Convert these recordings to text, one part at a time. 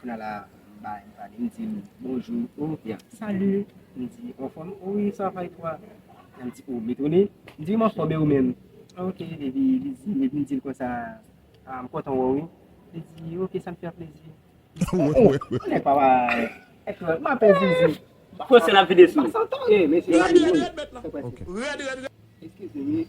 Kounya la m bay m pale m di l bonjou oh li ap salut m di ou anfòm oui ça va et toi la m di oh li tounen m di m anfòm e ou menm ok epi li di epi m di l konsa ah m kontan wè w wi li di ok sa m fè plezi oh oh oh nèg pa bay eklòl m apèn zizi Kòsè l ap vide sou li. Rèd rèd rèd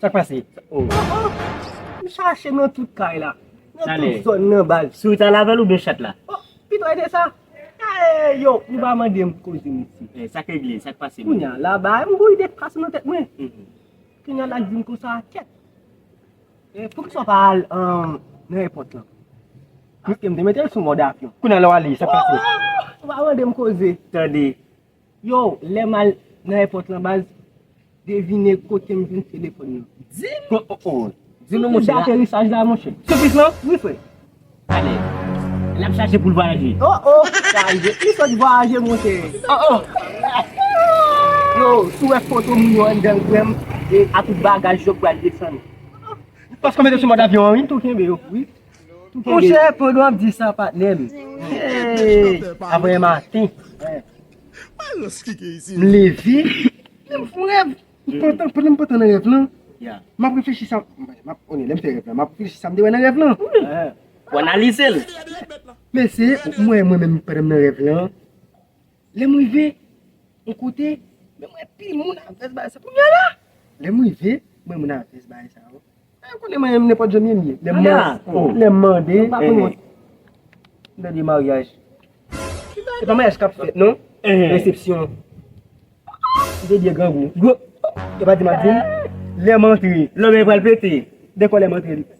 Sak pase? Oh oh! M chache nan tout kay la. Nan tout zòn nan baz. Sourit la lavel oubyen chat la? Oh! Pito e se sa. Eeyy yo! Nou pa mande m koze mesye. Eh sak regle? Sak pase? Kounya la bagay m gou ide k pase nan tèt mwen. Kounya la k di m konsa kèt. Eh poukisa w pa al nan èpòt lan? Paske m te mete l sou mòd avyon. Kounya la w ale? Sak pase? Oh oh! Ou pa mande m koze. Tande. Yow lèm al nan èpòt lan baz devine kotem jwenn telefòn nan. Dim pou daterisaj la monchè. Soufis lan? Wi frè. Alèz. Lap chache poul vwayaje. Oh oh sa rive. Li sot vwayaje monchè. Oh oh. Yow si w wè foto moun yo anndanl frèm e atout bagaj yo k pral desann. Paske w mete sou mòd avyon an wi. Tou kenbe yo wi. Monchè pandan wap di sa patnèm Aprè yon maten M leve M fon rèv Pandan m pantan nan rèv lan Map reflechi sa m te wè nan rèv lan Ou analize l Mesye m wè mwen menm pandan m nan rèv lan Lè m rive yon kote, men mwen pi moun ak vès bae sa. Kounya la! Lè m rive, m wè moun ak vès bae sa yo. Ewa yo konnen mwen nenpòt jan m ye m ye. Lè m mande, m pa konn moun. M tande maryaj. Se pa maryaj k ap fèt non. Resepsyon. M te byen grangou. Epa di m ap di m, lè m antre. Lanmè pral pete. Dekò lè m antre li pete.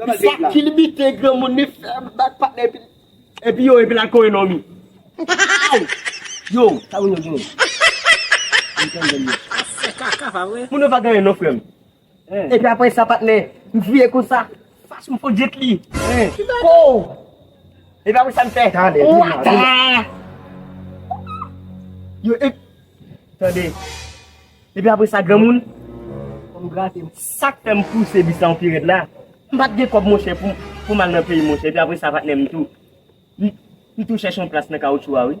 Sak ki limite granmoun li fèm bak patnè epi li. Epi yo epi la kore non mi. Aww yo sa moun yo gen. Mwen tande l yo. Sa fè kaka pa vre. Moun yo pa gen anyen non frem. Epi apre sa patnè m kriye konsa. Fache m fon jet li. Kikow. Epi apre sa m fè. Tande dim la dim la. Yo epi. Tande. Epi apre sa granmoun, fò m grate m. Sa k fè m pouse bis la yon pi rèd la, m pa t gen kòb monchè pou m al nan peyi monchè. Epi apre sa patnè m tou, m tou chèche yon plas nan kawoutchou a wi.